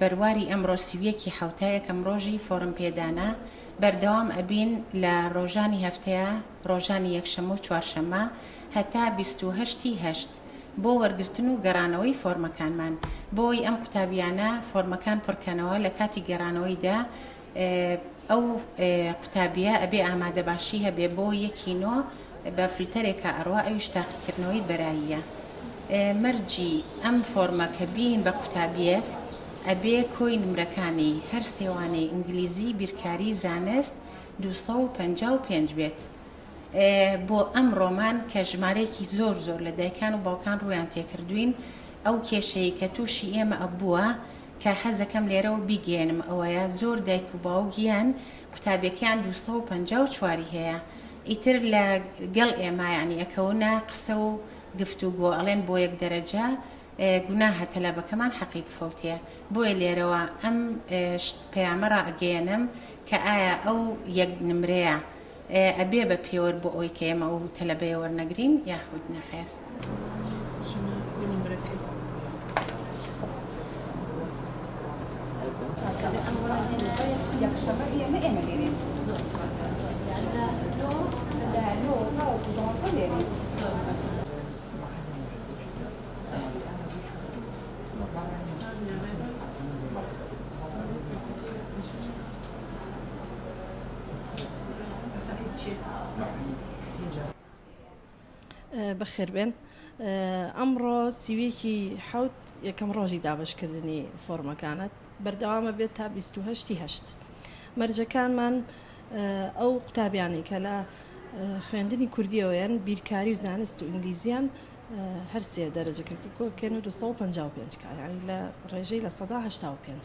بەرواری ئەمڕۆ سی و یەک ی حەوتە یەکەم ڕۆژی فۆڕم پێدانە بەردەوام ئەبین لە ڕۆژانی هەفتەیە ڕۆژانی یەکشەمە و چوارشەمە هەتا بیست و هەشت ی هەشت بۆ وەرگرتن و گەڕانەوەی فۆرمەکانمان بۆی ئەم قوتابیانە فۆرمەکان پڕکەنەوە لەکاتی گەرانەوەی دە ئەو قوتابیە ئەبێ ئامادەباشی هەبێ بۆ یەکی نۆ بە فلتەرێکا ئەڕوا ئەویش تاقیکردنەوەی بەراییە مەرجی ئەم فۆرمە کە بین بە قوتابیەک ئەبێ کۆی نمرەکانی هەر سێوانەی ئینگلیزی بیرکاری زانست دوو سەد و پەنجا و پێنج بێت بۆ ئەم ڕۆمان کە ژمارەیەکی زۆر زۆر لە دایکان و باوکان ڕویان تێکردوین ئەو کێشەیە کە تووشی ئێمە ئەبووە کە حەزەکەم لێرەوە بیگەیەنم ئەوەیە زۆر دایک و باوک یان قوتابیەکەیان دوو سەد و پەنجا و چوار ی هەیە ئیتر لە گەڵ ئێمە یانی ئەکەونە قسە و گفتوگۆ ئەڵێن بۆ یەک دەرەجە گوناهە تەلەبەکەمان حەقی بفەوتێ بۆیە لێرەوە ئەم پەیامە ڕائەگەیەنم کە ئایا ئەو یەک نمرەیە ئەبێ بە پێوەر بۆ ئەوەی کە ئێمە ئەو تەلەبەیە وەرنەگرین یاخود نەخێر؟ بەخێربێن ئەمڕۆ سیویەکی حوت یەکەم ڕۆژی دابشکردنی فۆرمەکانت بەردەوامە بێت تا 28 هەشت مەرجەکانمان ئەو قوتابیانی کە لە خوێندنی کوردیەوەیان بیرکاری و زانست و ئینگلیزیان هەرسێ دەرەجەکە کۆکێن و 255 کایانی لە ڕێژەی لە 1970 پێنج.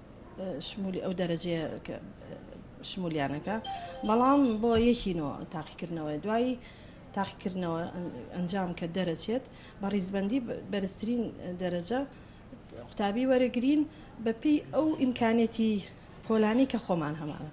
شمولی ئەو دەرەجەیە کە شمولیانەکە بەڵام بۆ یەکی نۆ تاقیکردنەوە دوایی تاقیکردنەوە ئەنجام کە دەرەچێت بە ڕیزبندی بەرزترین دەرەجە قوتابی وەرەگرین بەپی ئەو ئیمکانێتی پۆلانی کە خۆمان هەمانە